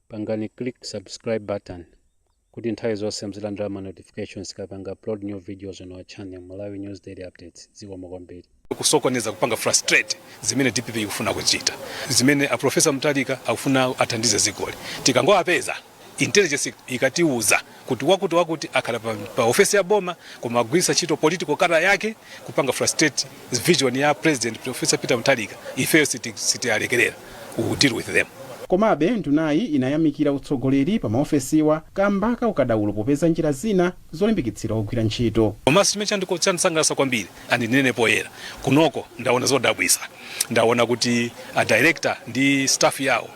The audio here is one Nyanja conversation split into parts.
Pangani click subscribe button kuti nthawi zonse muzilandira ma notifications tikapanga upload new videos on our channel Malawi News Daily Updates. Zikomo kwambiri. kusokoneza kupanga frustrate zimene dpp ikufuna kuchita zimene a profesa Mutharika akufuna athandize dzikoli tikangowapeza intelligence ikatiuza kuti wakuti wakuti akhala pa, pa ofesi ya boma koma agwiritsa ntchito political colour yake kupanga frustrate vision ya president professor peter mutharika ifeyo siti- sitialekerera we will deal with them komabe ndunayi inayamikira utsogoleri pa maofesiwa kamba ka ukadaulo popeza njira zina zolimbikitsira ogwira ntchito komanso chimene chandiko- chandisangalatsa kwambiri andinene poyera kunoko ndaona zodabwitsa ndaona kuti a director ndi staff yawo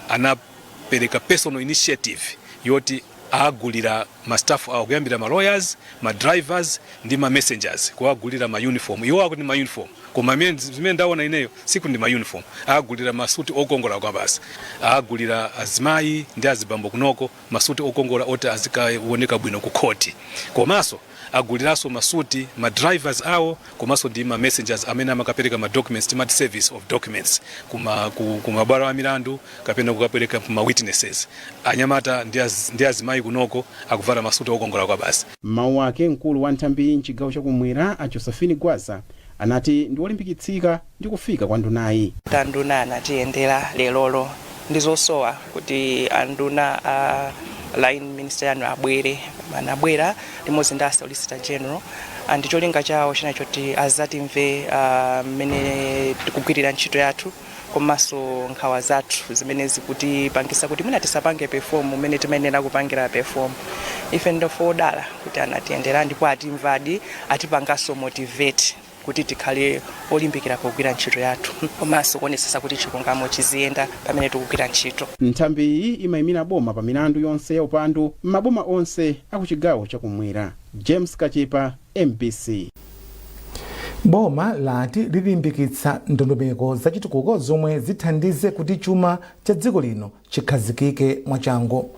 ana anapereka personal initiative yoti agulira ma staff awo kuyambira ma lawyers, ma drivers ndi ma messengers kuwagulira ma uniform. Iwo akuti ma uniform koma zimene ndaona ineyo sikuti ndi ma uniform. Agulira masuti okongola kwabasi. Agulira azimayi ndi azibambo kunoko masuti okongola oti azikaoneka bwino ku khoti. Komanso aguliranso masuti ma drivers awo komanso ndi ma messengers amene amakapereka ma documents timati service of documents kuma ku, ku mabwalo a milandu kapena kukapereka kuma witnesses anyamata ndi az- ndi azimayi kunoko akuvala masuti okongola kwabasi M'mawu ake mkulu wa nthambiyi m'chigawo chakumwera a Josephine Gwaza anati ndi olimbikitsika ndi kufika kwa ndunayi. Anduna anatiyendera lerolo ndi zosowa kuti anduna a line minister yanu abwere anabwera limodzi ndi a solicitor general and cholinga chawo china choti azatimve ah, mmene tikugwirira ntchito yathu komanso nkhawa zathu zimene zikutipangisa kuti mwina tisapange perform mmene timayenera kupangira perform ife ndofe odala kuti anatiyendera ndipo atimvadi atipanganso motivate kuti tikhale olimbikira pogwira ntchito yathu komanso kuonetsetsa kuti chilungamo chiziyenda pamene tikugwira ntchito. Nthambi iyi imaimira boma pa milandu yonse ya upandu m'maboma onse a ku chigawo cha kumwera. James Kachepa, mbc. Boma lati lilimbikitsa ndondomeko zachitukuko zomwe zithandize kuti chuma cha dziko lino chikhazikike mwachangu.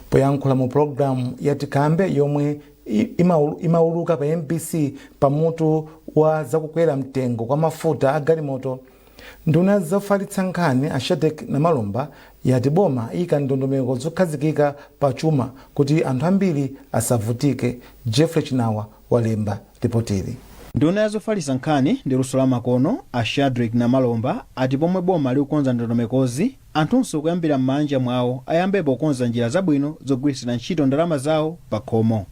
Poyankhula mu pulogalamu ya Tikambe yomwe imauluka pa mbc pa mutu wa zakukwera mtengo kwa mafuta a galimoto, nduna ya zofalitsa nkhani a Shadric Namalomba yati boma liika ndondomeko zokhazikika pa chuma kuti anthu ambiri asavutike. Jeffrey Chinawa walemba lipotili. Nduna ya zofalitsa nkhani ndi luso la makono a Shadric Namalomba ati pomwe boma likukonza ndondomekozi, Anthunso kuyambira m'maanja mwawo ayambepo kukonza njira zabwino zogwiritsira ntchito ndalama zawo pakhomo.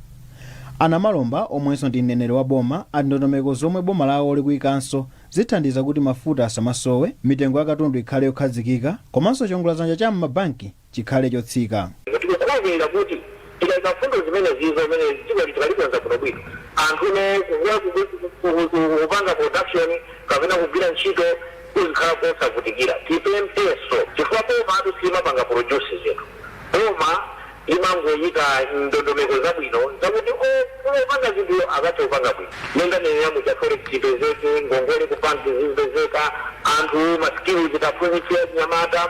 A Namalomba omwenso ndi mneneri wa boma ati ndondomeko zomwe boma lawo likuikanso zithandiza kuti mafuta asamasowe, mitengo ya katundu ikhale yokhazikika komanso chiongoladzanja cha m'mabanki chikhale chotsika. Ndiye tikukhulupirira kuti Tikaika mfundo zimenezi zomene dziko lathu talikonza bwinobwino, anthu ofuna kupanga production kapena kugwira ntchito kudzikhala kosavutikira. Tipemphenso chifukwa bomatu silimapanga produce zinthu. Boma limangoika ndondomeko zabwino zakuti ofuna kupanga zinthuwo akathe kupanga bwino. Mmene ndanenera muja forex ipezeke, ngongole ku bank zizipezeka, anthu ma skills tiwaphunzitse achinyamata.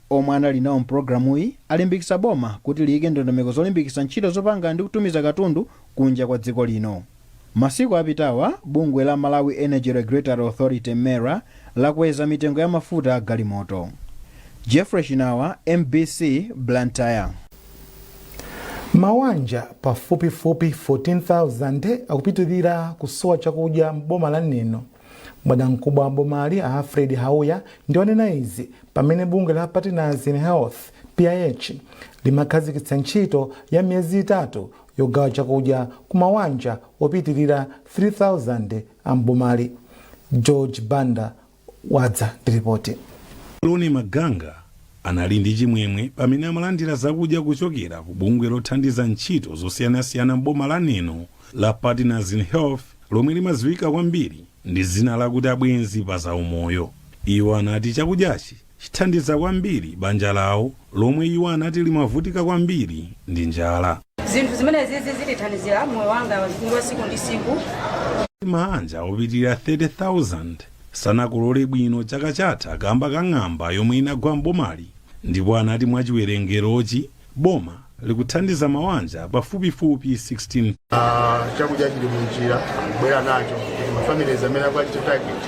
Omwe anali nawo m'pulogalamuyi alimbikitsa boma kuti liyike ndondomeko zolimbikitsa ntchito zopanga ndi kutumiza katundu kunja kwa dziko lino. Masiku apitawa, bungwe la Malawi Energy Regulatory Authority, MERA, lakweza mitengo ya mafuta a galimoto. Geoffrey Chinawa, MBC, Blantyre. Mawanja pafupifupi 14,000 akupitilira kusowa chakudya m'boma la Neno. Bwanamkubwa wa bomali a Alfred Hauya ndiwo wanena izi pamene bungwe la Partners in Health, PIH, limakhazikitsa ntchito ya miyezi itatu yogawa chakudya ku mawanja opitilira 3,000 a m'bomali. George Banda wadza ndi ripoti. Loni Maganga anali ndi chimwemwe pamene amalandira zakudya kuchokera ku bungwe lothandiza ntchito zosiyanasiyana m'boma la Neno. la Partners in Health lomwe limadziwika kwambiri ndi dzina lakuti Abwenzi pa Zaumoyo. Iwo anati chakudyachi chithandiza kwambiri banja lawo lomwe iwo anati limavutika kwambiri ndi njala. zinthu zimenezi zi zitithandizira moyo wanga wa tsiku ndi tsiku maanja opitirira 30,000 sanakolole bwino chaka chatha kamba ka ng'amba yomwe inagwa m'bomali ndipo anati mwa chiwerengerochi Boma likuthandiza mawanja pafupifupi 16. Uh, chakudya chili munjira akubwera nacho kuti mafamilies amene akuwachita target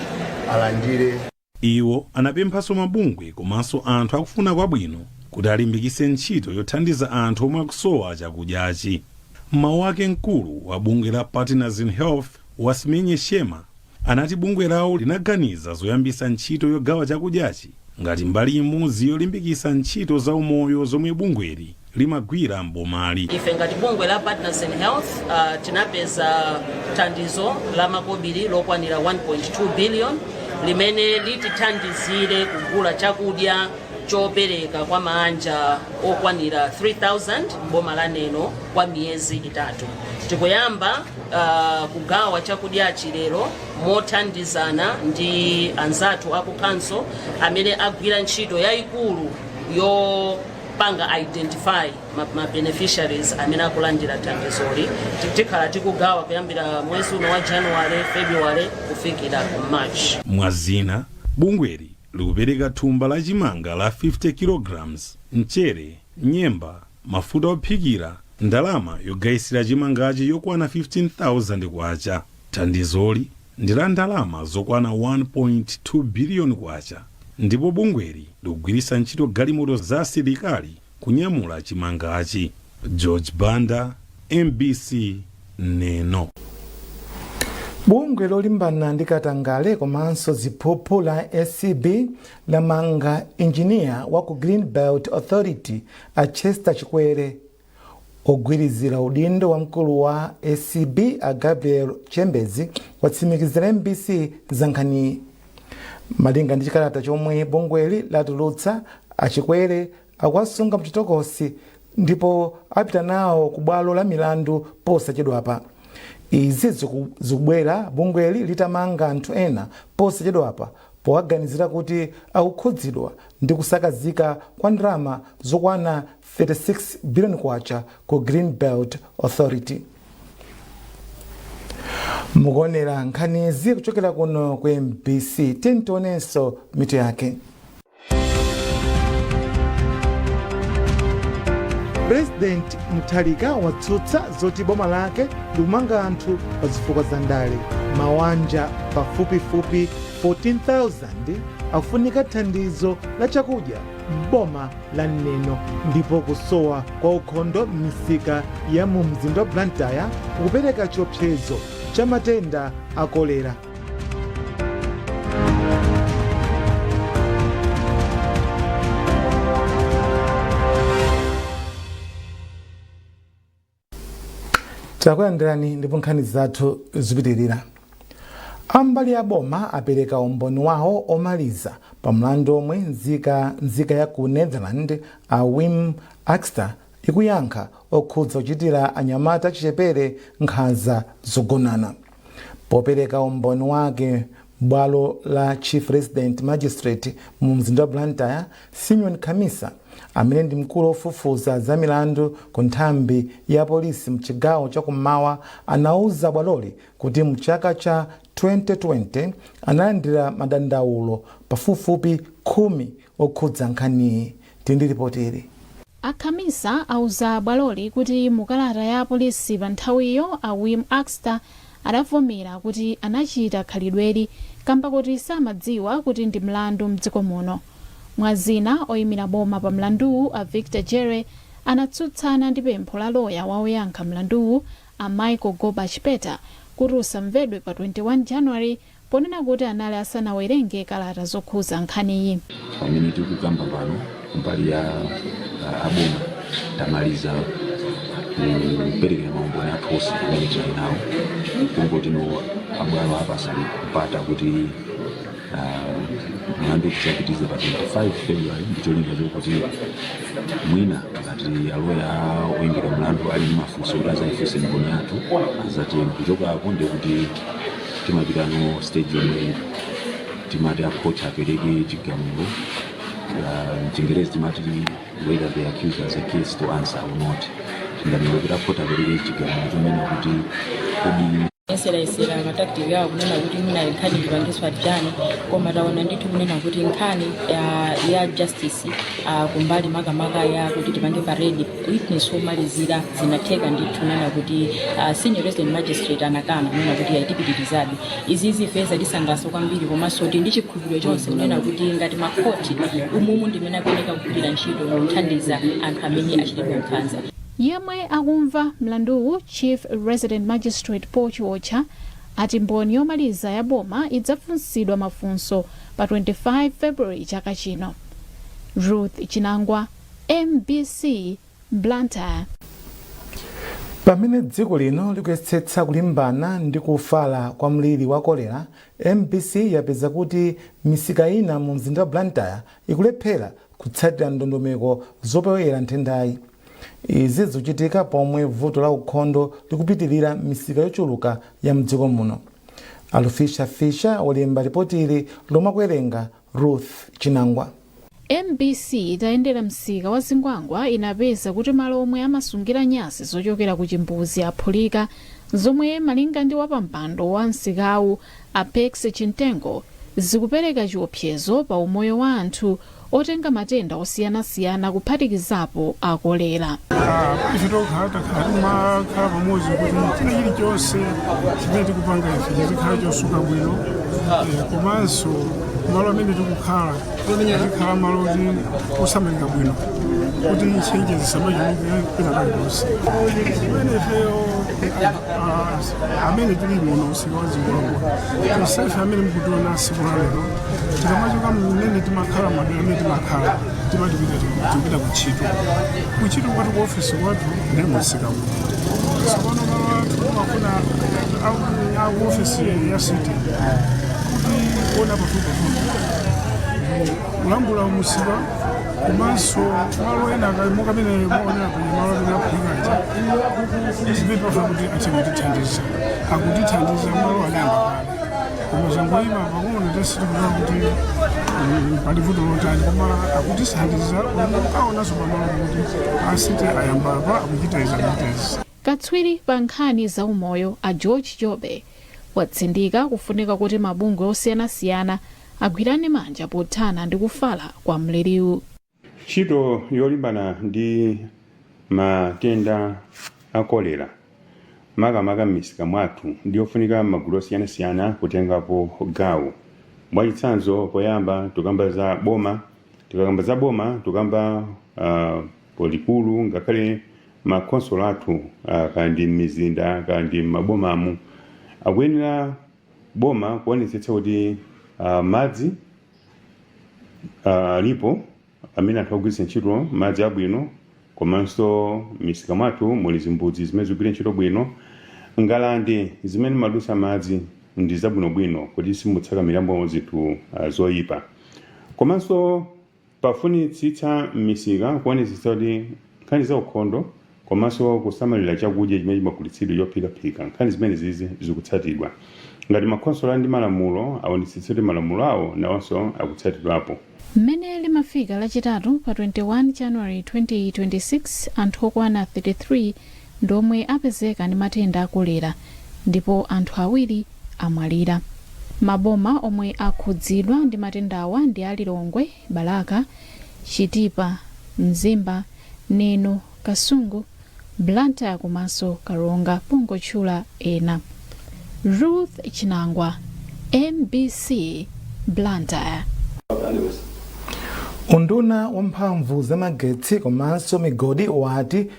alandire. Iwo anapemphanso mabungwe komanso anthu akufuna kwabwino kuti alimbikitse ntchito yothandiza anthu omwe akusowa chakudyachi. M'mawu ake mkulu wa bungwe la Partners in Health Basimenye Nhlema anati bungwe lawo linaganiza zoyambisa ntchito yogawa chakudyachi ngati mbali imodzi yolimbikisa ntchito za umoyo zomwe bungweli limagwira m'bomali. Ife ngati bungwe la Partners in Health uh, tinapeza thandizo la makobiri lokwanira 1.2 billion limene litithandizire kugula chakudya chopereka kwa maanja okwanira 3000 m'boma la Neno kwa miyezi itatu tikuyamba uh, kugawa chakudyachi lero mothandizana ndi anzathu aku council amene agwira ntchito yayikulu yopanga identify ma, ma beneficiaries amene akulandira thandizoli Ti- tikhala tikugawa kuyambira mwezi uno wa january february kufikira ku march mwazina bungweli likupereka thumba la chimanga la 50 kilograms mchere nyemba mafuta ophikira, ndalama yogayisira chimangachi yokwana K15,000. Thandizoli ndi la ndalama zokwana K1.2 biliyoni ndipo bungweli likugwiritsa ntchito galimoto za asilikali kunyamula chimangachi. George Banda, mbc, Neno. Bungwe lolimbana ndi katangale komanso ziphuphu la acb lamanga enjiniya wa ku Greenbelt Authority a Chester Chikwere, ogwirizira udindo wa mkulu wa acb a Gabriel Chembezi watsimikizira mbc za nkhaniyi. Malinga ndi chikalata chomwe bungweli latulutsa, a Chikwere akuwasunga mchitokosi ndipo apita nawo ku bwalo la milandu posachedwapa. Izi zikubwera bungweli litamanga anthu ena posachedwapa powaganizira kuti akukhudzidwa ndi kusakazika kwa ndalama zokwana K36 billion ku Greenbelt Authority. Mukuonera nkhanizi kuchokera kuno ku mbc, tiyeni tionenso mitu yake. Pulezidenti Mutharika watsutsa zoti boma lake likumanga anthu pa zifukwa za ndale. Mawanja pafupifupi 14,000 akufunika thandizo la chakudya m'boma la Neno ndipo kusowa kwa ukhondo m'misika ya mu mzinda wa Blantyre kukupereka chiopsezo cha matenda a kolera. takulandirani ndipo nkhani zathu zikupitirira ambali ya boma apereka umboni wawo omaliza pa mlandu omwe nzika ya ku netherland a wim akster ikuyankha okhudza kuchitira anyamata achichepere nkhanza zogonana. Popereka umboni wake m'bwalo la Chief Resident Magistrate mu mzinda wa Blantyre, Simeon Khamisa, amene ndi mkulu wofufuza za milandu ku nthambi ya polisi m'chigawo cha kummawa, anauza bwaloli kuti m'chaka cha 2020 analandira madandaulo pafupifupi khumi okhudza nkhaniyi Ali ndi lipoti ili. A Khamisa auza bwaloli kuti mu kalata ya apolisi pa nthawiyo, a Wim Akster adavomera kuti anachita khalidweli kamba koti samadziwa kuti ndi mlandu m'dziko muno. Mwa zina, oimira boma pa mlanduwu, a Victor Jere, anatsutsana ndi pempho la loya wa oyankha mlanduwu, a Michael Goba Chipeta, kuti usamvedwe pa 21 January, ponena kuti anali asanawerenge kalata zokhuza nkhaniyi. Pamene tikukamba pano kumbali ya a boma tamaliza kupereka maumboni athu onse amene tili nawo kungoti no abwalo apasa mpata kuti ah, mlandu tidzapitize pa 25 february ndi cholinga chokuti mwina ngati aloya oyimira mlandu ali ndi mafunso kuti azayifunse mboni yathu azatenge kuchoka apo ndikuti timapita no stage yomwe timati a court apereke chigamulo uh, mchingerezi timati whether the accused has a case to answer or not tinganena kuti a court apereke chigamulo chonena kuti kodi ayeserayesera matactic yawo kunena kuti mwina nkhani ipangiswe adjourn koma taona ndithu kunena kuti nkhani ah, ya justice ah, kumbali makamaka ya kuti tipange parade witness womalizira zinatheka ndithu kunena kuti uh, senior resident magistrate anakana kunena kuti ayi tipitirizabe izi ife zatisangalatsa kwambiri komanso tili ndi chikhulupiriro chonse kunena kuti ngati makhoti umumu ndimene akuoneka kugwirira ntchito kuthandiza anthu amene achitidwa nkhanza yemwe akumva mlanduwu chief resident magistrate paul chiotcha ati mboni yomaliza ya boma idzafunsidwa mafunso pa 25 february chaka chino ruth chinangwa mbc blantyre. Pamene dziko lino likuyesetsa kulimbana ndi kufala kwa mliri wa kolera, mbc yapeza kuti misika ina mu mzinda wa Blantyre ikulephera kutsatira ndondomeko zopewera nthendayi. Izi zikuchitika pomwe vuto la ukhondo likupitirira m'misika yochuluka ya mdziko muno. Alufisha Fisha walemba lipoti ili lomwe akuwerenga Ruth Chinangwa. Mbc itayendera msika wa Zingwangwa inapeza kuti malo omwe amasungira nyansi zochokera ku chimbuzi aphulika, zomwe malinga ndi wapampando wa msikawu a Perks Chintengo zikupereka chiopsezo pa umoyo wa anthu otenga matenda osiyanasiyana kuphatikizapo a kolera ife tokhala takhala timakhala pamodzi kuti china chilichonse chimene tikupanga ife chizikhala chosuka bwino Eh, komanso malo amene tikukhala tikhale malo oti osamalika bwino kuti ntchentche zisamachuluke pena paliponse chimene ifeyo amene tili muno msika wa Zingwangwa tonsefe amene mukutiona tsiku la lero tikamachoka mmene timakhala madera amene timakhala timapita tikupita kuntchito kuntchito kwathu ku ofesi kwathu ndi msika uno tsopano malo athu timafuna aku ofesi ya city kuti kuona pafupipafupi kulambula musika komanso malo ena akaimoka amene maonera kuli malo amene aphulikaja izipepa fakuti azitithandiza akutithandiza malo anayamba kale koma zangoyima pang'ono sitikuona kuti mm, pali vuto lotani koma akutithandiza ukaonanso pamalo kuti a city ayamba apa akuchita izi akuchita izi katswiri pa nkhani za umoyo a george jobe watsindika kufunika kuti mabungwe osiyanasiyana agwirane manja pothana ndi kufala kwa mliriwu. Ntchito yolimbana ndi matenda a kolera makamaka m'misika mwathu ndi yofunika magulu osiyanasiyana kutengapo gawo. Mwachitsanzo poyamba tikukamba za boma, tikakamba za boma tikukamba ah, polikulu ngakhale makhonsolo athu ah, kaya ndi m'mizinda kaya ndi m'mabomamu akuyenera boma kuonetsetsa kuti madzi alipo amene anthu akugwiritsa ntchito madzi abwino komanso misika mwathu muli zimbudzi zimene zikugwira ntchito bwino ngalande zimene mumadutsa madzi ndi zabwinobwino kuti simutsakamiramo zinthu zoyipa komanso Pafunitsitsa m'misika kuonetsetsa kuti nkhani za ukhondo komanso kusamalira chakudya chimene chimagulitsidwa chophikaphika, nkhani zimenezizi zikutsatidwa. Ngati makhonsolo ali ndi malamulo, aonetsetse kuti malamulo awonawonso akutsatidwapo. Mmene limafika Lachitatu pa 21 January 2026, anthu okwana 33 ndi omwe apezeka ndi matenda a kolera ndipo anthu awiri. amwalira. Maboma omwe akhudzidwa ndi matendawa ndi a Lilongwe, Balaka, Chitipa, Mzimba, Neno, Kasungu, Blantyre komanso Karonga pongotchula ena. Ruth Chinangwa, mbc, Blantyre. Unduna wa mphamvu za magetsi komanso migodi wati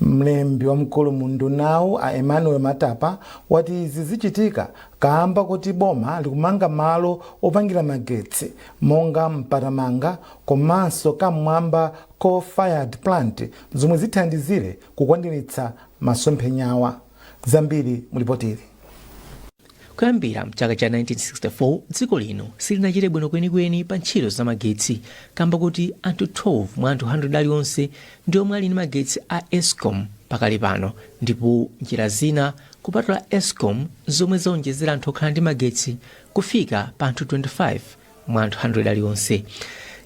Mlembi wamkulu mu undunawu a Emmanuel Matapa wati izi zichitika kaamba koti boma likumanga malo opangira magetsi monga Mpatamanga komanso Kam'mwamba coal fired plant zomwe zithandizire kukwaniritsa masomphenyawa. Zambiri mulipotili. Kuyambira mchaka cha 1964 dziko lino silinachite bwino kwenikweni pa ntchito za magetsi kamba kuti anthu 12 mwa anthu 100 alionse ndi omwe ali ndi magetsi a escom pakali pano ndipo njira zina kupatula escom zomwe zaonjezera anthu okhala ndi magetsi kufika pa anthu 25 mwa anthu 100 alionse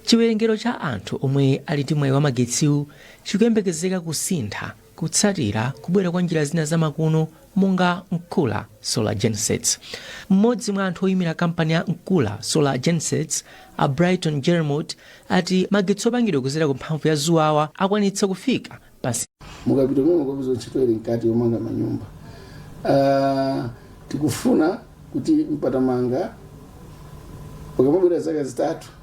chiwerengero cha anthu omwe ali ndi mwayi wa magetsiwu chikuyembekezeka kusintha Kutsatira kubwera kwa njira zina zamakono monga Nkula Solar Gensets, mmodzi mwa anthu oyimira kampani ya Nkula Solar Gensets, a Brighton Jermot, ati magetsi opangidwa kudzera ku mphamvu ya zuwawa akwanitsa kufika pa. mukapita momwe kapeza ntchito ili mkati yomanga manyumba Ah, tikufuna kuti mpatamanga pakamabwera zaka zitatu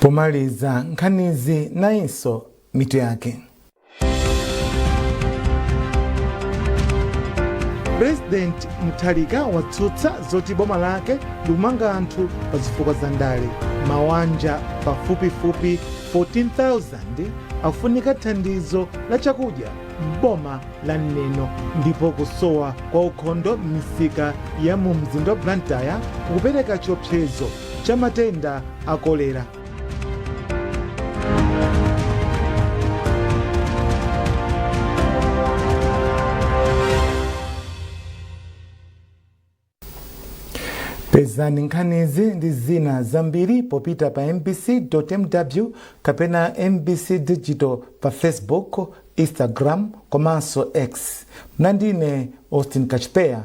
Pomaliza nkhanizi nayinso mitu yake. President Mutharika watsutsa zoti boma lake likumanga anthu pa zifukwa za ndale. Mawanja pafupifupi 14,000 akufunika thandizo la chakudya m'boma la Neno ndipo kusowa kwa ukhondo m'misika ya mu mzinda wa Blantyre kukupereka chiopsezo cha matenda a kolera. pezani nkhanizi ndi zina zambiri popita pa mbc.mw kapena mbc digital pa facebook instagram komanso x munali ndine austin kachpeya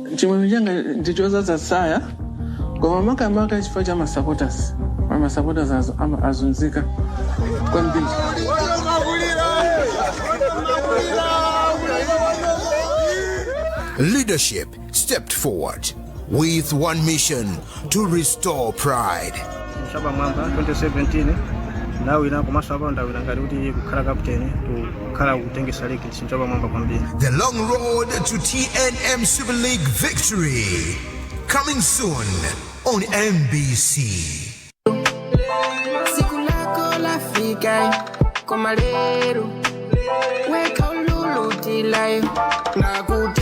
chimwemwe changa ndi chodzadza tsaya koma makamaka chifukwa cha masupporters masupporters azunzika kwambiri Leadership stepped forward with one mission to restore pride. Chapamwamba 2017 ndawina komanso apa ndawina ngati kuti kukhala kapteni kukhala kutengetsa ligi ndichapamwamba kwambiri The long road to TNM Super League victory. Coming soon on MBC. tsiku lako lafika koma lero wekha ululutilayo nakute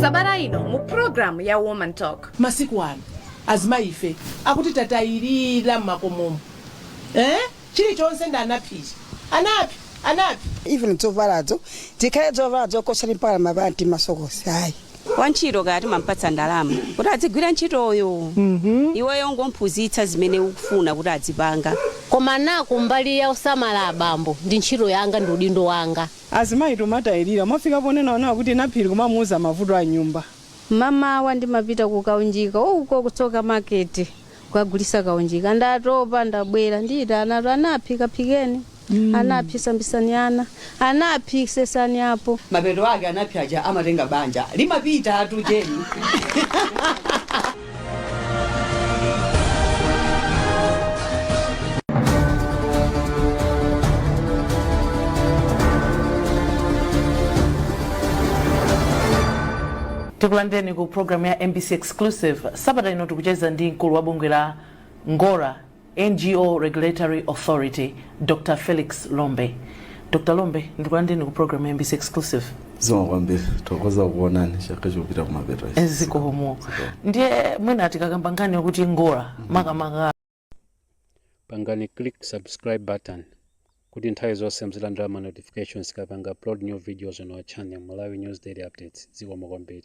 sabata ino mu programu ya woman talk masiku ano azimayi ife akuti tatayirira mmakomomo eh? chilichonse ndi anaphiri anaphi anaphi even zovalazo zikhale zovala zakusamba mpaka mapanti masokosi ayi wantchito kaya timampatsa ndalama kuti adzigwira ntchitoyo iweyo kungomphunzitsa zimene ukufuna kuti adzipanga koma nanga kumbali yosamala abambo ndi ntchito yanga ndi udindo wanga Azimayi tumatayilira. Mwafika ponena inuyo kuti Naphiri kumamuuza mavuto a m'nyumba. M'mamawa ndimapita kukaunjika uko ku Tsoka Market kukagulisa kaunjika. Ndatopa ndabwera ndiyitanatu Anaphi kaphikeni, Anaphi sambisani ana, Anaphi sesani apo. Mapeto ake Anaphi aja amatenga banja limapitatu Jeni. tikulandireni ku programu ya mbc exclusive sabata ino tikucheza ndi mkulu wa bungwe la ngora NGO Regulatory Authority, Dr. Felix Lombe. Dr. Lombe, ndikulandireni ku program ya MBC Exclusive. zikomo kwambiri tikuthokoza kukuonani chaka chikupita kumapeto ichi. Zikomo. Ndiye mwina tikakamba nkhani yokuti ngora makamaka pangani click subscribe button kuti nthawi zonse muzilandira ma notifications tikapanga upload new videos on our channel malawi news daily updates zikomo kwambiri